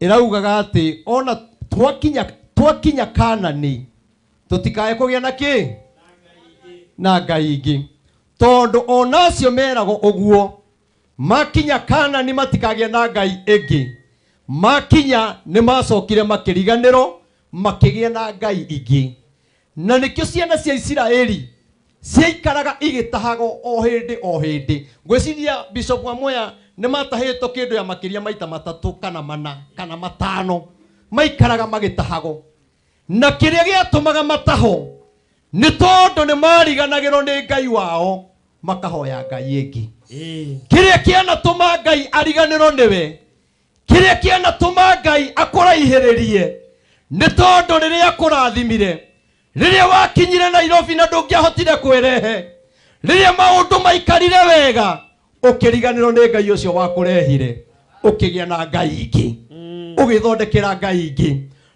ĩraugaga atĩ ona twakinya twakinya kanani tũtikae kũgĩa na kĩ na ngai ingĩ tondũ ona acio meragwo ũguo makinya kanani matikagĩa na ngai ĩngĩ makinya nĩ macokire makĩriganĩrwo makĩgĩa na ngai ingĩ Na nĩkĩo ciana cia Isiraeli ciaikaraga igĩtahagwo o hĩndĩ o hĩndĩ. Ngwĩciria Bishop amwe aya nĩ matahĩtwo kĩndũ ya makĩria maita matatũ kana mana kana matano. Maikaraga magĩtahagwo. Na kĩrĩa gĩatũmaga matahwo nĩ tondũ nĩ mariganagĩrwo nĩ Ngai wao makahoya Ngai ĩngĩ. Ĩĩ. Kĩrĩa kĩanatũma Ngai ariganĩrwo nĩwe kĩrĩa kĩanatũma ngai akũraihĩrĩrie nĩ tondũ rĩrĩa akũrathimire rĩrĩa wakinyire nairobi na ndũngĩahotire kwĩrehe rĩrĩa maũndũ maikarire wega ũkĩriganĩrwo nĩ ngai ũcio wakũrehire ũkĩgĩa na ngai ingĩ ũgĩthondekera ngai ingĩ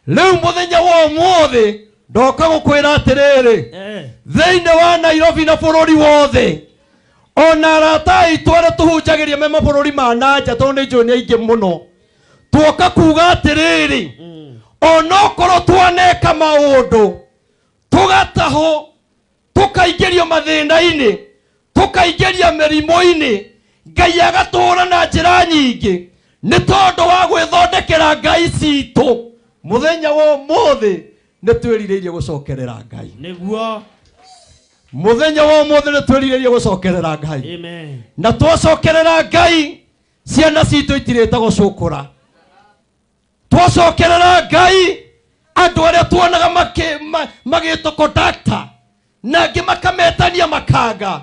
rĩu mũthenya wa ũmũthĩ ndoka gũkwĩra atĩrĩrĩ Eh. thĩinĩ wa nairobi na bũrũri wothe ona arata aitũ arĩa tũhunjagĩria me mabũrũri ma na nja tondũ nĩ njũĩ nĩ aingĩ mũno tuoka kuga atĩrĩrĩ onokorwo twaneka maũndũ tũgatahwo tũkaingĩrio mathĩna-inĩ tũkaingĩria mĩrimũ-inĩ ngai agatũũra na njĩra nyingĩ nĩ tondũ wa gwĩthondekera ngai citũ mũthenya wa ũmũthĩ nä twä rirä gũcokerera ngai nĩguo mũthenya wa ũmũthĩ nĩ twĩrirĩrie gũcokerera ngai amen na twacokerera ngai ciana citũ itirĩte gũcũkũra twacokerera ngai andũ arĩa tuonaga makĩ- ma- magĩtũkondakta na angĩ makametania makanga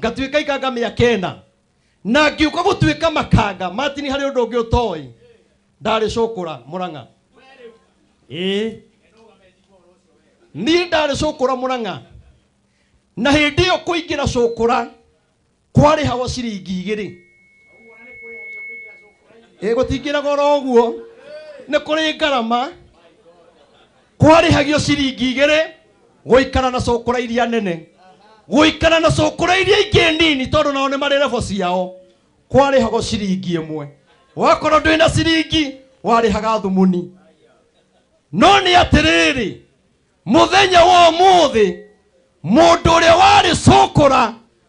ngatuĩka ikanga mĩaka ĩna na ngiũka gũtuĩka makanga matini harĩ ũndũ ũngĩ ũtoĩ ndarĩ cũkũra mũrang'a ĩĩ niĩ ndarĩ cũkũra mũrang'a na hĩndĩ ĩyo kũingĩra cũkũra kwarĩ hawa ciringi igĩrĩ ĩĩ gũtingĩraga oro ũguo nĩ kũrĩ ngarama kwarĩhagio ciringi igĩrĩ gũikara na cũkũra iria nene gũikara na cũkũra iria ingĩ nini tondũ nao nĩ marĩ rebo ciao kwarĩhagwo ciringi ĩmwe wakorwo ndwĩ na ciringi warĩhaga thumuni no nĩ atĩrĩrĩ mũthenya wa ũmũthĩ mũndũ ũrĩa warĩ cũkũra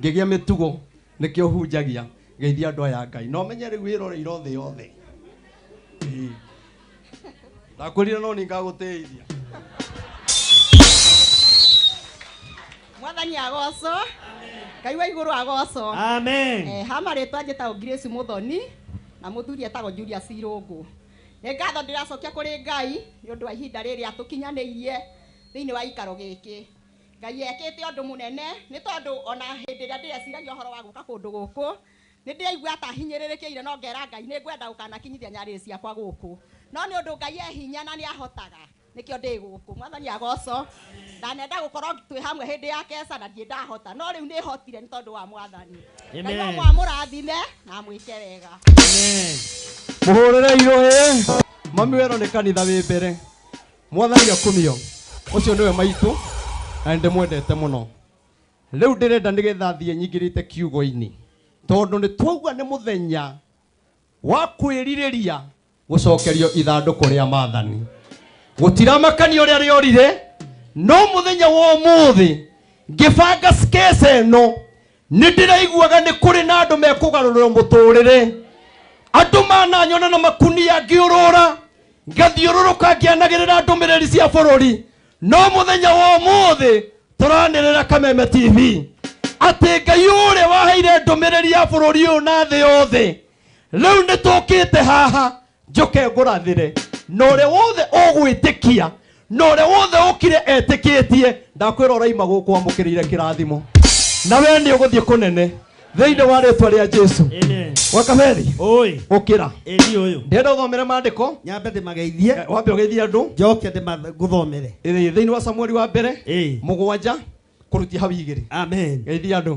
ngĩgĩa mĩtugo nĩkĩo hunjagia geithia andũ aya ngai no menye rĩu wĩroreire thĩ yothe Ĩĩ. ndakwĩrire no nĩ ngagũteithia mwathani agocwo ngai wa igũrũ agocwo Amen. Eh, ha marĩtwa njĩtagwo grace mũthoni na mũthuri etagwo julia cirũngũ nĩ ngatho ndĩracokia kũrĩ ngai nĩ ũndũ wa ihinda rĩrĩ atũkinyanĩirie thĩinĩ wa ikaro gĩkĩ Ngai ekĩte ũndũ mũnene nĩ tondũ o na hĩndĩ ĩrĩa ndĩreciragia ũhoro wa gũka kũndũ gũkũ, nĩ ndĩraigua ta hinyĩrĩrĩkĩire na ngera Ngai nĩ ngwenda gũkanakinyithia nyarĩrĩ ciakwa gũkũ. No nĩ ũndũ Ngai e hinya na nĩ ahotaga nĩkĩo ndĩ gũkũ. Mwathani agocwo. Ndanenda gũkorwo twĩ hamwe hĩndĩ ya keca na ndirĩ ndahota, no rĩu nĩ hotire nĩ tondũ wa Mwathani. Ngai wa ma amũrathime na amwĩke wega. Mũhũrĩre irũĩ. Mami wero nĩ kanitha wĩ mbere. mwathani akumio ucio niwe maitu na ndimwendete muno riu ndirenda nigetha thie nyingirite kiugo-ini tondu ni twaugua ni muthenya wa kwiririria gucokerio ithanduku ria mathani gutiramakania uria riorire no muthenya wa umuthi ngibanga skesa ino nĩ ndĩraiguaga nĩ kũrĩ na andũ mekũgarũrĩrwo mũtũrĩre andũ mananyona na makunia ngĩũrũra ngathiũrũrũka ngĩanagĩrĩra ndũmĩrĩri cia bũrũri no mũthenya wa ũmũthĩ tũranĩrĩra kameme tv atĩ ngai ũrĩa waheire ndũmĩrĩri ya bũrũri ũyũ na thĩ yothe rĩu nĩ tũkĩte haha njoke ngũrathĩre na ũrĩa wothe ũgwĩtĩkia na ũrĩa wothe ũkire etĩkĩtie ndakwĩra ũraima gũkũ wamũkĩrĩire kĩrathimo na wee nĩ ũgũthiĩ kũnene thĩinĩ wa rĩtwa rĩa jesu Amen. wakaberi Oi. ũkĩra Eri uyu. ndĩrenda ũthomere maandĩko Nyambe ndimageithie. Eh, wambe ũgeithie andũ Njoke ndimaguthomere. Ĩĩ, thĩinĩ wa samueli wa mbere Eh. mũgwanja kũrutia hau igĩrĩ Amen. geithia andũ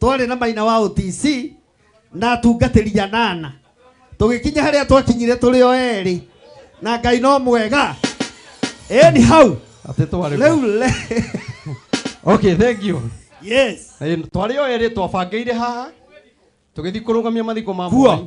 twarĩ na maina wa OTC na atungatĩri anana tũgĩkinya harĩa twakinyire tũrĩ o erĩ na ngai no mwega eni hau Atĩ twarĩ rĩu kuo. le Okay, thank you. yes Eh, Twarĩ o erĩ twabangĩire haha tũgĩthiĩ kũrũgamia mathiko ma Kuo. Mwai.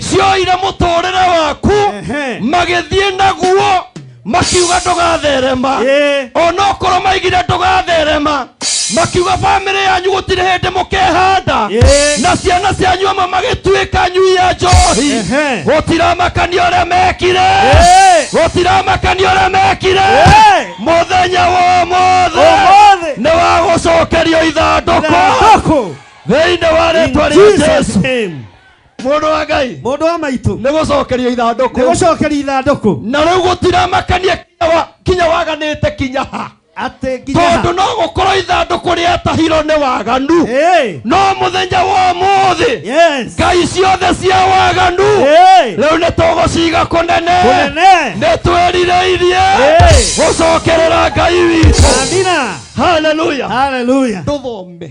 cioire mũtũrĩre waku Ehe. magĩthiĩ naguo makiuga ndũgatherema Ĩĩ. onokorwo maigire ndũgatherema makiuga bamĩrĩ yanyu gũtirĩ hĩndĩ mũkehanda Ĩĩ. na ciana cianyu amwe magĩtuĩka nyui ya njohi Ehe. gũtiramakania ũrĩa mekire Ĩĩ. gũtiramakania ũrĩa mekire Ĩĩ. mũthenya wa ũmũthĩ Ũmũthĩ. nĩ wa gũcokerio ithandũkũ Ithandũkũ. thĩinĩ wa rĩtwa In rĩa Jesus' jesu name. mũndũ wa ngai Mũndũ wa maitũ. nĩ gũcokeria Nĩ ithandũkũ gũcokeria ithandũkũ. na rĩu gũtiramakania kinya wa- kinya waganĩte kinya ha Atĩ nginya ha. tondũ no gũkorwo ithandũkũ rĩatahirwo nĩ waganu Hey. no mũthenya wa mũthĩ Yes. ngai ciothe cia waganu Hey. rĩu nĩ tũgũciga kũnene Kũnene. nĩ twĩrirĩirie Hey. gũcokerera ngai witũ Amina. haleluya Hallelujah. tũthome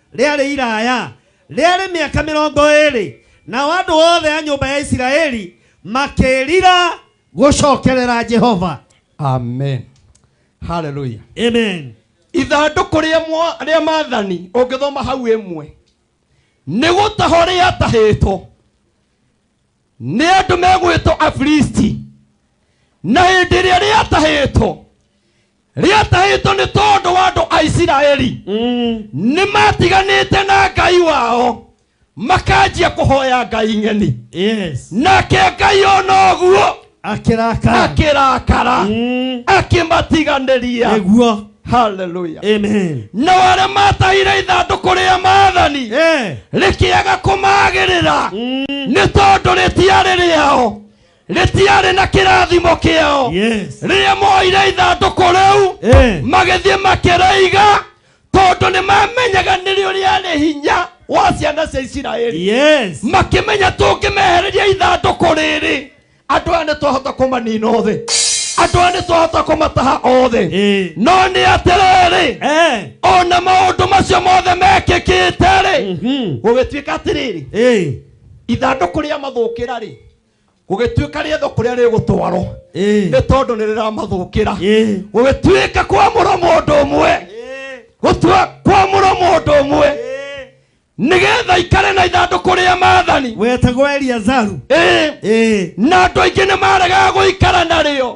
rĩarĩ iraya, rĩarĩ mĩaka mĩrongo ĩĩrĩ. Nao andũ othe a nyũmba ya Isiraeli makĩrira gũcokerera Jehova. amen haleluya Amen. ithandũkũ rĩa mwa- rĩa maathani ũngĩthoma hau ĩmwe nĩ gũtahwo rĩatahĩtwo nĩ andũ megwĩtwo afilisti na hĩndĩ ĩrĩa rĩatahĩtwo rĩatahĩtwo nĩ tondũ wa andũ a isiraeli Mm. nĩ matiganĩte na ngai wao makanjia kũhoya ngai ng'eni Yes. nake ngai ona ũguo Akĩrakara. akĩrakara Mm. akĩmatiganĩria Nĩguo. haleluya Amen. na arĩa matahire ithandũkũ rĩa maathani Eh. rĩkĩaga kũmagĩrĩra Mm. nĩ tondũ rĩtiarĩ rĩao rĩtiarĩ na kĩrathimo kĩao Yes. rĩrĩa moire ithandũkũ rĩu Eh. magĩthiĩ makĩrĩiga tondũ nĩ mamenyaga nĩrĩo rĩarĩ hinya wa ciana cia isiraeli Yes. makĩmenya tũngĩmehereria ithandũkũ rĩrĩ andũ aya nĩ twahota kũmanina othe andũ aya nĩ twahota kũmataha othe Eh. no nĩ atĩrĩrĩ Eh. ona maũndũ macio mothe mekĩkĩte-rĩ Mhm. gũgĩtuĩka atĩrĩrĩ Eh. ithandũkũ rĩa mathũkĩra-rĩ gũgĩtuĩka rĩetho kũrĩa rĩgũtwarwo Eh. nĩ tondũ nĩ rĩramathũkĩra Eh. gũgĩtuĩka kwamũrwo mũndũ ũmwe Eh. gũtua kwamũrwo mũndũ ũmwe Eh. nĩgetha ikare na ithandũkũ rĩa maathani wetagwo eliazaru Eh, Eh. na andũ aingĩ nĩ maregaga gũikara narĩo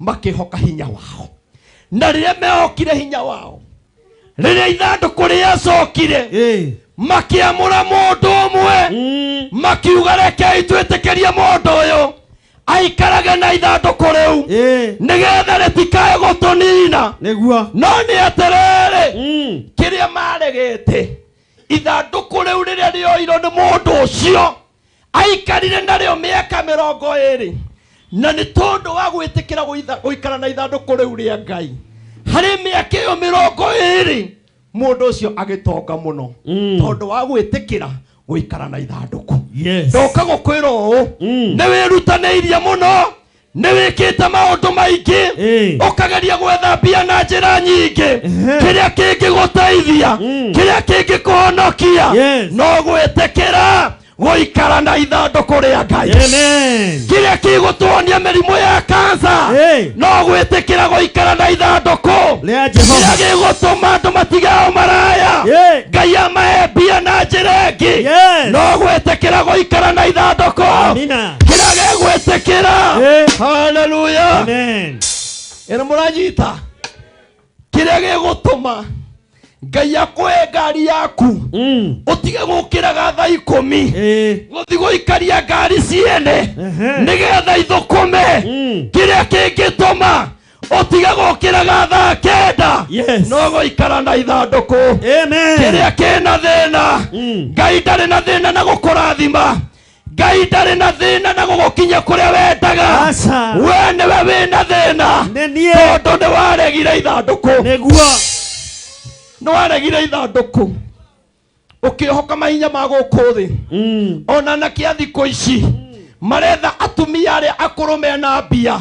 makĩhoka hinya wao na rĩrĩa mehokire hinya wao rĩrĩa ithandũkũ rĩacokire Eh. makĩamũra mũndũ ũmwe Mm. makiuga rekei twĩtĩkĩrie mũndũ ũyũ aikarage na ithandũkũ rĩu Eh. nĩgetha rĩtikae gũtũnina Nĩguo. no nĩ atĩrĩrĩ Mm. kĩrĩa maregete ithandũkũ rĩu rĩrĩa rĩoirwo nĩ mũndũ ũcio aikarire narĩo mĩaka mĩrongo ĩrĩ na nĩ tondũ wa gwĩtĩkĩra gũitha- gũikara na ithandũkũ rĩu rĩa ngai harĩ mĩaka ĩyo mĩrongo ĩrĩ mũndũ ũcio agĩtonga mũno Mm. tondũ wa gwĩtĩkĩra gũikara na ithandũkũ Yes. ndoka gũkwĩra ũũ Mm. nĩ wĩrutanĩirie mũno nĩ wĩkĩte maũndũ maingĩ Ĩĩ. ũkageria gwetha mbia na njĩra nyingĩ Ehe. kĩrĩa kĩngĩgũteithia Mm. kĩrĩa kĩngĩkũhonokia Yes. no gwĩtĩkĩra gũikara na ithandũkũ rĩa ngai Amen. kĩrĩa kĩgũtuonia mĩrimũ ya kansa Hey. no gwĩtĩkĩra gũikara na ithandũkũ Rĩa Jehova. kĩrĩa gĩgũtũma andũ matigao maraya Hey. ngai amahe mbia na njĩra ĩngĩ Yes. no gwĩtĩkĩra gũikara na ithandũkũ Amina. kĩrĩa gĩgwĩtĩkĩra Eh. haleluya Amen. ĩrĩ mũranyita kĩrĩa gĩgũtũma ngai akũhe ngari yaku Mm. ũtige gũkĩraga tha ikũmi Eh. gũthi gũikaria ngari ciene Ehe. nĩgetha ithũkũme Mm. kĩrĩa kĩngĩtũma ũtige gũkĩraga thaa kenda Yes. no gũikara na ithandũkũ Amen. kĩrĩa kĩna thĩna Mm. ngai ndarĩ na thĩna na gũkũrathima ngai ndarĩ na thĩna na gũgũkinya kũrĩa wendaga Aca. we nĩwe wĩ na thĩna Nĩ niĩ. tondũ nĩ waregire ithandũkũ nĩguo nĩ waregire ithandũkũ ũkĩhoka mahinya ma gũkũ thĩ ona na kĩa thikũ ici maretha atumia arĩa akũrũ mena mbia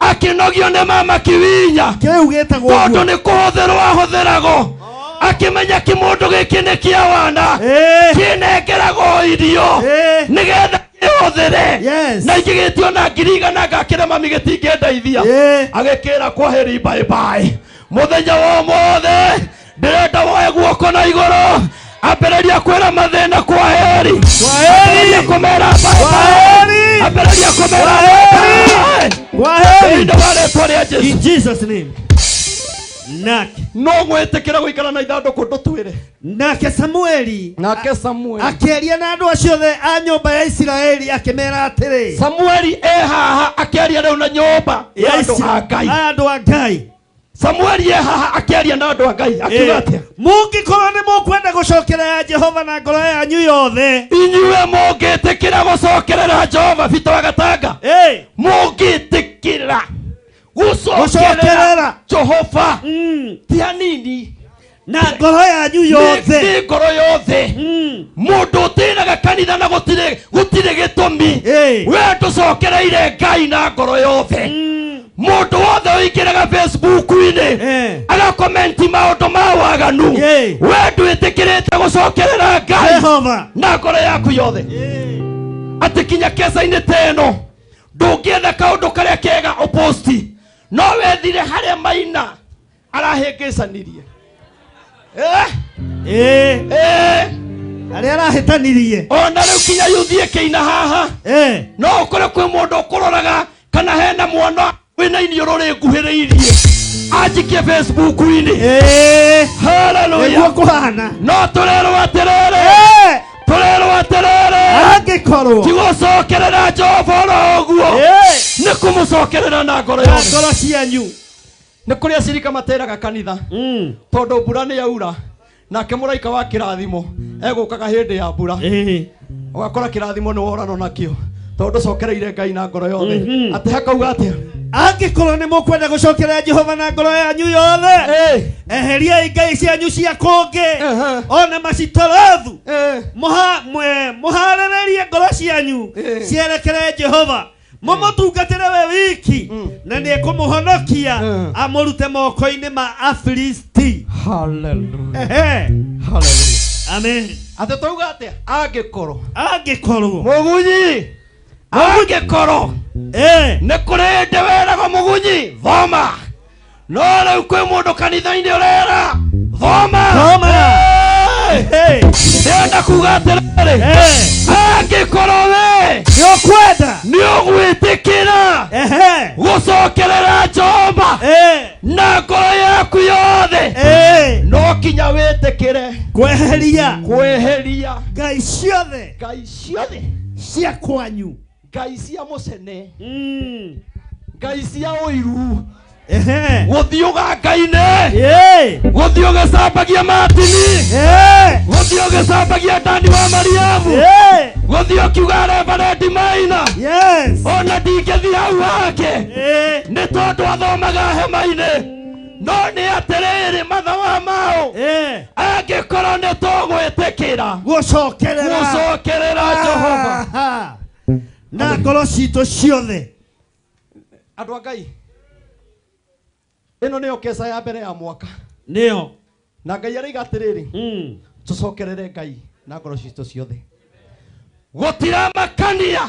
akĩnogio nĩ mama kiwinya kĩu gĩtagwo tondũ ũguo nĩ kũhũthĩrwo ahũthĩragwo akĩmenya kĩmũndũ gĩkĩ nĩ kĩa wana Eh, kĩnengeragwo irio eh, nĩgetha kĩhũthĩre Yes. na ingĩ gĩtio na ngiri igana ngakĩra mami gĩtingĩndeithia eh. agĩkĩra kwahĩri mbaĩmbaĩ mũthenya wa ũmũthĩ ndĩrenda woe guoko na igũrũ ambĩrĩria kwĩra mathĩna kwa heri ambĩrĩria kũmera bye-bye. ambĩrĩria kũmera bye-bye. Thĩinĩ wa rĩĩtwa rĩa Jesu. In Jesus name. Nake no gwĩtĩkĩra gũikara na ithandũkũ ndũtwĩre nake samueli nake samueli akĩaria na andũ acio othe a nyũmba ya isiraeli akĩmera atĩrĩ samueli e haha akĩaria rĩu na nyũmba ya andũ a ngai a andũ a ngai samueli e haha akĩaria na andũ a ngai akiuga atĩa mũngĩkorwo nĩ mũkwenda gũcokerera jehova na ngoro yanyu yothe inyuĩ mũngĩtĩkĩra gũcokerera jehova bito agatanga Ĩ, mũngĩtĩkĩra gũcokerera Gũcokerera. jehova mm, ti hanini na ngoro yanyu nĩ yothe nĩ ngoro yothe Mm. mũndũ ũtĩnaga kanitha na gũtirĩ gũtirĩ gĩtũmi Ĩĩ. we ndũcokereire ngai na ngoro yothe Mm. mũndũ wothe ũingĩraga facebook-inĩ Eh. agakomenti maũndũ ma waganu Yay. we ndwĩtĩkĩrĩte gũcokerera ngai Jehova. na ngoro yaku yothe atĩ kinya kesa-inĩ ta ĩno ndũngĩenda kaũndũ karĩa kega ũposti no wethire harĩa maina arahĩngĩcanirie Eh, Eh, eh, arĩa arahĩtanirie ona rĩu kinya yuthiĩ kĩina haha Eh, no ũkore kwĩ mũndũ ũkũroraga kana hena mwana wĩna iniũrũ rĩnguhĩrĩirie anjikie facebook-inĩ eh, nĩguo haleluya kũhana no tũrerwo atĩrĩrĩ Eh, tũrerwo atĩrĩrĩ angĩkorwo tigũcokerera jehova oro ũguo Eh, nĩ kũmũcokerera na ngoro na yothe ngoro cianyu nĩ kũrĩ acirika materaga kanitha Mm. tondũ mbura nĩ yaura nake mũraika wa kĩrathimo egũkaga hĩndĩ ya mbura Eh. ũgakora kĩrathimo nĩ worano nakĩo tondũ ndũcokereire ngai na ngoro yothe Mhm. atĩ hakauga atĩa angĩkorwo nĩ mũkwenda gũcokerera jehova na ngoro yanyu yothe Eh, eheriai ngai cianyu cia kũngĩ Ehe. ona macitorothu eh, Mũha- mwe- mũhaarĩrĩrie ngoro cianyu Eh. cierekere jehova mũmũtungatĩre we wiki Mm. na nĩ kũmũhonokia Mm. amũrute moko-inĩ ma afilisti Hallelujah. Ehe. Hallelujah. amen Atĩ twauga atĩa? Angĩkorwo. angĩkorwo Mũgunyi. Angĩkorwo. Eh. Nĩ kũrĩ ndĩ wĩragwo mũgunyi. Thoma. no rĩu kwĩ mũndũ kanitha-inĩ ũrera thoma Thoma. Hey! Hey, ndĩrenda kuga atĩrĩrĩ Eh. angĩkorwo we nĩ ũkwenda nĩ ũgwĩtĩkĩra Ehe. gũcokerera jehova Eh, na ngoro yaku yothe eh. no kinya wĩtĩkĩre kweheria kwĩheria ngai ciothe ngai ciothe cia kwanyu ngai cia mũcene Mm. ngai cia ũiru Ehe. gũthiũga ngai-inĩ Eh. gũthiĩ ũgĩcambagia matini Eh. gũthiĩ ũgĩcambagia ndani wa mariamu Eh. gũthiĩ ũkiuga rebarendi maina Yes. ona ndingĩthiĩ hau hake Eh. nĩ tondũ athomaga hema-inĩ no nĩ atĩrĩrĩ matha wa maũ Eh, angĩkorwo nĩ tũgwĩtĩkĩra gũcokerera gũcokerera jehova Ah, na ngoro citũ ciothe andå a ngai ä no nä yo keca ya mbere ya mwaka nĩyo na ngai araiga atä rä rä Mm. tå cokerere ngai na ngoro citå ciothe gå tiramakania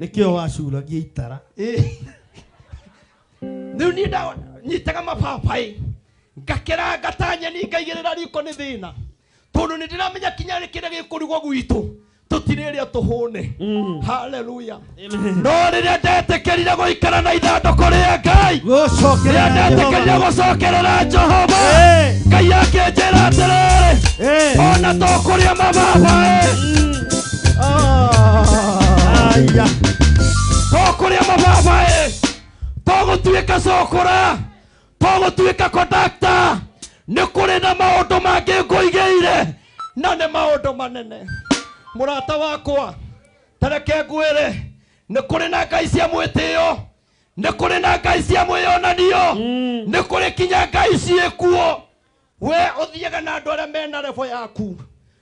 nĩkĩo wacuragia itara Ĩ. rĩu niĩ nda- nyitaga mababaĩ ngakeranga ta nyeni ngaigĩrĩra riko nĩ thĩna tondũ nĩ ndĩramenya kinya rĩ kĩrĩa gĩkũrugwo gwitũ tũtirĩrĩa tũhũne haleluya no rĩrĩa ndetĩkĩrire gũikara na ithandũkũ rĩa ngai rĩrĩa ndetĩkĩrire gũcokerera jehova ngai akĩnjĩra atĩrĩrĩ ona tũkũrĩa mababaĩ aya tokũrĩa mababa ĩ togũtuĩka cokora togũtuĩka kondakta nĩ kũrĩ na maũndũ mangĩ ngũigĩire na nĩ maũndũ manene mũrata wakwa tareke ngwĩre nĩ kũrĩ na ngai cia mwĩtĩo nĩ kũrĩ na ngai cia mwĩyonanio nĩ kũrĩ kinya ngai ciĩkuo we ũthiaga na andũ arĩa mena revo yaku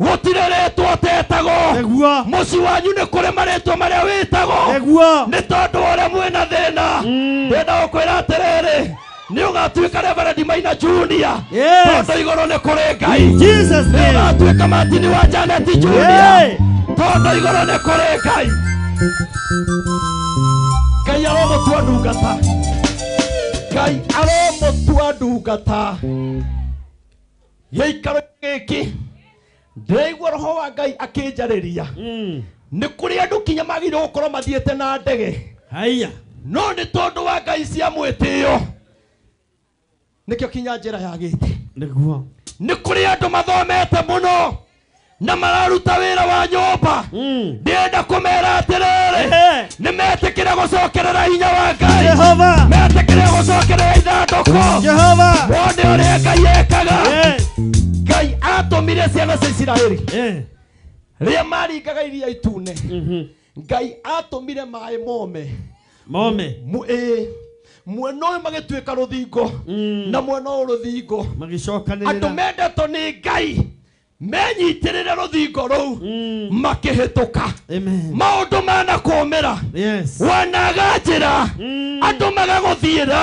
gũtirĩ rĩtwa ũtetagwo nĩguo mũciĩ wanyu nĩ kũrĩ marĩtwa marĩa wĩtagwo nĩguo nĩ tondũ wa ũrĩa mwĩna thĩna ndĩna gũkwĩra atĩrĩrĩ nĩ ũgatuĩka reverendi maina junia Yes. tondũ igũrũ nĩ kũrĩ ngai In Jesus' nĩ name. ũgatuĩka matini wa janeti junia Yay. tondũ igũrũ nĩ kũrĩ ngai ngai aromũtua ndungata ngai aromũtua ndungata gĩikaro gĩkĩ ndĩraigua roho wa ngai akĩnjarĩria Mm. nĩ kũrĩ andũ kinya magĩrĩirwo gũkorwo mathiĩte na ndege Haya. no nĩ tondũ wa ngai cia mwĩtĩo nĩkĩo kinya njĩra yagĩte Nĩguo. nĩ kũrĩ andũ mathomete mũno na mararuta wĩra wa nyũmba Mm. ndĩrenda kũmera atĩrĩrĩ Ehe. nĩ metĩkĩre gũcokerera hinya wa ngai Jehova. metĩkĩre gũcokerera ithandũkũ Jehova. wone ũrĩa ngai ekaga Eh. ngai atũmire ciana cia isiraeli Eh. rĩrĩa maringaga iria itune Mhm. ngai atũmire maĩ mome mome Mu- ĩĩ, mwena ũyũ magĩtuĩka rũthingo Mm. na mwena ũyũ rũthingo andũ magĩcokanĩrĩra mendetwo nĩ ngai menyitĩrĩre rũthingo rũu Mm. makĩhĩtũka Amen. maũndũ manakũmĩra yes wanaga njĩra Mm. andũ magagũthiĩra